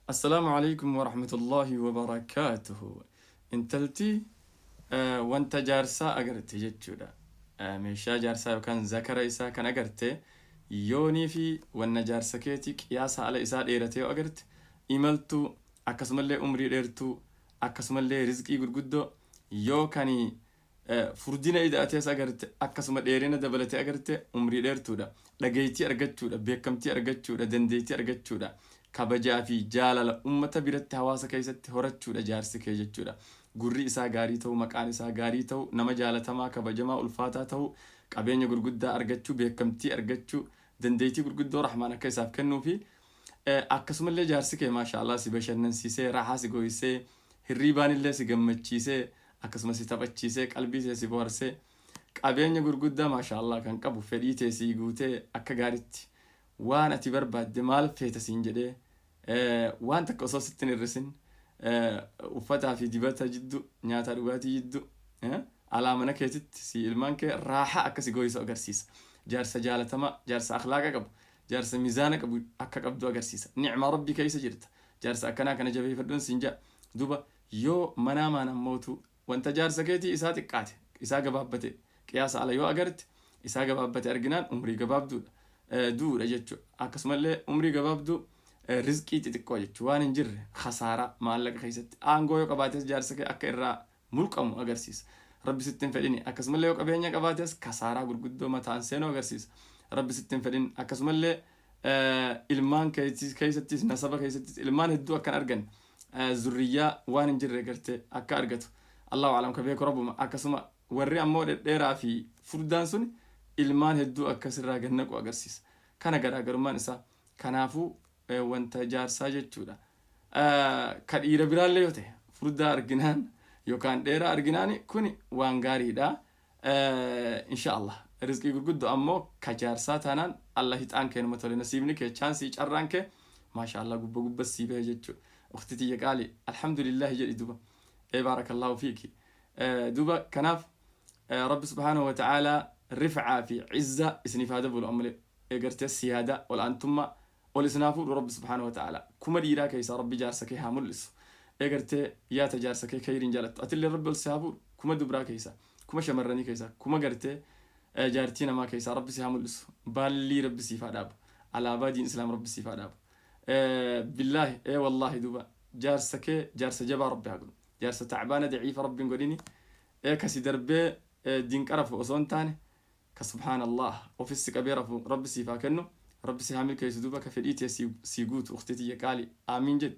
Assalaamu Aleykum Warahmatullaahi Wabarakaatuhu Intalti wanta jaarsaa agarte jechuudha. Meeshaa jaarsaa yookaan zakara isaa kan agarte yoonii fi wanna jaarsa keetii qiyaasa ala isaa dheerate yoo agarte imaltuu akkasumallee umrii dheertuu akkasumallee rizqii gurguddoo yoo kanii Furdina ida'atees agarte, akkasuma dheerina dabalatee agarte, umrii dheertuudha. Dhageeytii argachuudha, beekkamtii argachuudha, dandeeytii argachuudha, kabajaa fi jaalala ummata biratti hawaasa keeysatti horachuudha jaarsi kee jechuudha. Gurri isaa gaarii tahuu, maqaan isaa gaarii tahuu, nama jaalatamaa, kabajamaa, ulfaataa tahuu, qabeenya gurguddaa argachuu, beekkamtii argachuu, dandeeytii gurguddoo Rahmaan akka isaaf kennuu fi akkasumallee jaarsi kee maasha Allah si bashannansiisee, raahaa si gooysee, hirriibaanillee si gammachiisee, akkasuma si taphachiisee qalbii tee si boharsee qabeenya gurguddaa maashaallah kan qabu fedhii tee sii guutee akka gaaritti waan ati barbaadde maal feeta siin jedhee waan takka osoo sitti hin hir'isin uffataa fi dibata jiddu nyaataa dhugaatii jiddu alaa mana keetitti si ilmaan kee raaha akka si gooyisu agarsiisa jaarsa jaalatamaa jaarsa akhlaaqa qabu jaarsa mizaana qabu akka qabdu agarsiisa ni'maa rabbii keessa jirta jaarsa akkanaa kana jabeeffadhuun siin jaa duba Yoo manaa maan ammootu wanta jaarsa keetii isaa xiqqaate, isaa gabaabbate, qiyaasa ala yoo agarte, isaa gabaabbate arginaan umrii gabaabduudha, du'uudha jechu. Akkasumallee umrii gabaabduu rizqii xixiqqoo jechu. Waan hin jirre, khasaaraa, maallaqa keessatti. Aangoo yoo qabaates jaarsa kee akka irraa mulqamu agarsiisa. Rabbi sitti hin fedhini. Akkasumallee yoo qabeenya qabaates kasaaraa gurguddoo mataan seenu agarsiisa. Rabbi sitti hin fedhin. Akkasumallee ilmaan keessattis nasaba keessattis ilmaan hedduu akkan argan zurriyyaa waan hin jirre garte akka argatu allahu alam ka beeku rabbuma akkasuma warri ammoo dhedheeraa fi furdaan sun ilmaan hedduu akkasirraa gannaqu agarsiisa kana garaagarummaan isaa kanaafuu wanta jaarsaa jechuudha ka dhiira biraallee yoo ta'e furdaa arginaan yookaan dheeraa arginaan kun waan gaariidha Inshaallah rizqii gurguddo ammo ka jaarsaa taanaan Allah hixaan kee numa tole nasiibni kee chaansii carraan kee maashaallah gubba gubba sii bahe jechuu ukhti tiyya qaali alhamdulillahi jedhi duba ee baarakallahu fiiki duba kanaaf rabbi subhaanahu wa ta'aala rif'aa fi izza isiniif haa dabalu ammale ee gartee siyaada ol'aantumma Ol isin haa fuudhu rabbi subhaanahu wa ta'aalaa kuma dhiiraa keessaa rabbi jaarsa kee haa mul'isu ee gartee yaa ta jaarsa kee keyriin jaalattu atilleen rabbi ol si haa fuudhu kuma dubraa keessaa kuma shamarranii keessaa kuma gartee jaartii namaa keessaa rabbi si haa mul'isu baallii rabbi siif haa dhaabu alaabaa diin islaam rabbi siif haa dhaabu billaahi ee wallaahi duuba jaarsa kee jaarsa jabaa rabbi haa godhu jaarsa tacbaana daciifa rabbi hin godhini ee kasi darbee diin qarafu osoo hin taane ka subhaan allaah ofis si qabee rafu rabbi siif haa kennu rabbi si haa milkeessu duuba ka fedhii tee sii guutu ukhtii tiyya qaali aamiin jedhi.